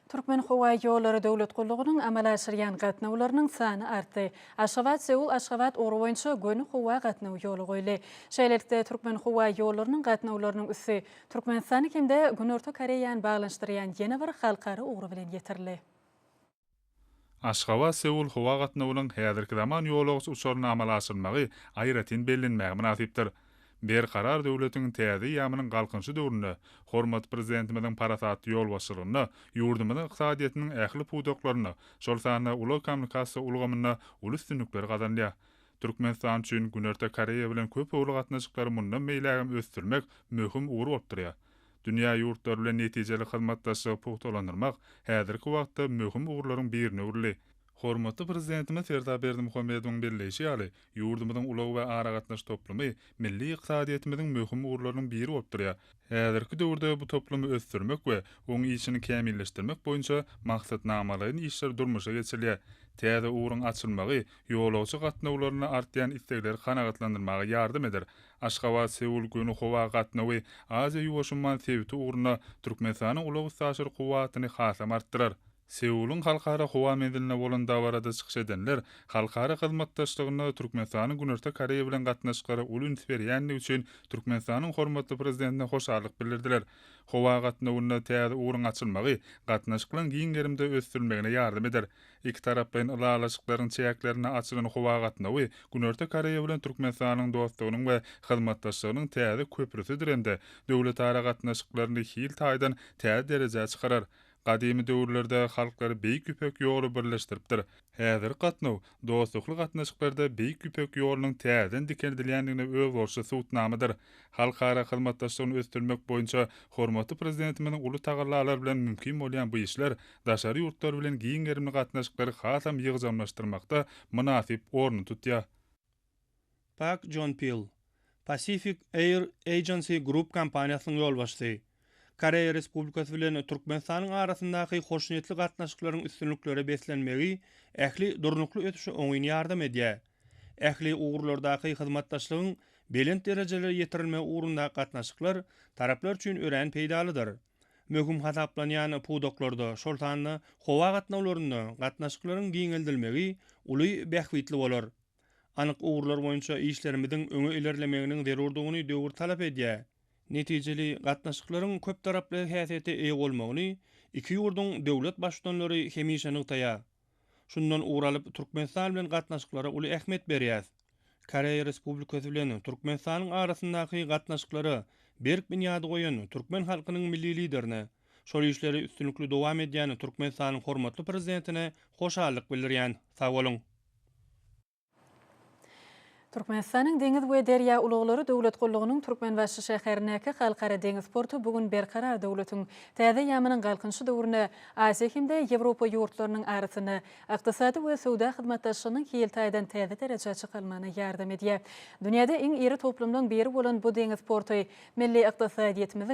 Türkmenhowaýollary döwlet gullugynyň amala aşyrýan gatnawlarynyň sany artdy. Aşgabat-Seul-Aşgabat ugry boýunça göni howa gatnawy ýola goýuldy. Şeýlelikde, Türkmenhowaýollarynyň gatnawlarynyň üsti Türkmenistany hem-de Günorta Koreýany baglanyşdyrýan ýene bir halkara ugry bilen ýetirildi. Aşgabat, Seul howa gatnawynyň häzirki zaman ýolagçy uçaryny amala aşyrmagy aýratyn bellenmäge mynasypdyr. Berkarar döwletiň täze eýýamynyň Galkynyşy döwründe hormatly Prezidentimiziň parasatly ýolbaşçylygynda ýurdumyzyň ykdysadyýetiniň ähli pudaklarynda, şol sanda ulag-kommunikasiýa ulgamynda uly üstünlikler gazanylýar. Türkmenistan üçin Günorta Koreýa bilen köpugurly gatnaşyklary mundan beýlägem ösdürmek möhüm ugur bolup durýar. Dünýä ýurtlary bilen netijeli hyzmatdaşlygy pugtalandyrmak häzirki wagtda möhüm ugurlaryň birine öwrüldi. Hormatly Prezidentimiz Serdar Berdimuhamedowyň belleýşi ýaly, ýurdumyzyň ulag we aragatnaşyk toplumy milli ykdysadyýetimiziň möhüm ugurlarynyň biri bolup durýar. Häzirki döwürde bu toplumy ösdürmek we oň işini kämilleşdirmek boýunça maksatnamalaýyn işler durmuşa geçirilýär. Täze ugruň açylmagy ýolagçy gatnawlarynda artýan islegleri kanagatlandyrmaga ýardam eder, Aşgabat, Seul göni howa gatnawy Aziýa-Ýuwaşumman sebiti ugruna Türkmenistanyň ulag-üstaşyr kuwwatyny hasam artdyrar. Seulyň Halkara howa menziline bolan dabarada çykyş edenler halkara hyzmatdaşlygyna Türkmenistanyň Günorta Koreýa bilen gatnaşyklary uly üns berýändigi üçin Türkmenistanyň hormatly Prezidentine hoşallyk bildirdiler. Howa gatnawynda täze ugruň açylmagy gatnaşyklaryň giň gerimde ösdürilmegine ýardam eder. Ikitaraplaýyn ylalaşyklaryň çäklerinde açylan howa gatnawy Günorta Koreýa bilen Türkmenistanyň dostlugynyň we hyzmatdaşlygynyň täze köprüsidir hem-de döwletara gatnaşyklaryny hil taýdan täze derejä çykarar. Gadymy döwürlerde halklary Beýik Ýüpek ýoly birleşdiripdir. Häzirki gatnaw dostlukly gatnaşyklarda Beýik Ýüpek ýolunyň täzeden dikeldilýändigine özboluşly subutnamadyr. Halkara hyzmatdaşlygyny ösdürmek boýunça hormatly Prezidentimiziň uly tagallalary bilen mümkin bolýan bu işler daşary ýurtlar bilen giň gerimli gatnaşyklary hasam ýygjamlaşdyrmakda mynasyp orny tutýar. Pak Jon Pil, Pacific Air Agency Group kompaniýasynyň ýolbaşçysy, Koreýa Respublikasy bilen Türkmenistanyň arasyndaky hoşniýetli gatnaşyklaryň üstünliklere beslenmegi ähli durnukly ösüşe oňyn ýardam edýär. Ähli ugurlardaky hyzmatdaşlygyň belent derejelere ýetirilmegi ugrundaky gatnaşyklar taraplar üçin örän peýdalydyr. möhüm hasaplanýan pudaklarda, şol sanda howa gatnawlarynda gatnaşyklaryň giňeldilmegi uly bähbitli bolar. Anyk ugurlar boýunça işlerimiziň öňe ilerlemeginiň zerurdygyny döwür talap edýär. Netijeli gatnaşyklaryň köptaraply häsiýete eýe bolmagyny iki ýurduň döwlet Baştutanlary hemişe nygtaýar. Şundan ugur alyp, Türkmenistan bilen gatnaşyklara uly ähmiýet berýäs. Koreýa Respublikasy bilen Türkmenistanyň arasyndaky gatnaşyklara berk binýady goýan türkmen halkynyň Milli Liderine, şol işleri üstünlikli dowam edýän Türkmenistanyň hormatly Prezidentine hoşallyk bildirýän. Sag boluň! Türkmenistanyň Deňiz we derýa ulaglary döwlet gullugynyň Türkmenbaşy şäherindäki Halkara deňiz porty bu gün Berkarar döwletiň täze ýamynyň Galkynyşy döwründe Aziýa hem-de Ýewropa ýurtlarynyň arasynda ykdysady we söwda hyzmatdaşlygynyň hil taýdan täze derejä çykalmagyna ýardam edýär. Dünýäde iň iri toplumlaryň biri bolan bu deňiz porty milli ykdysadyýetimiziň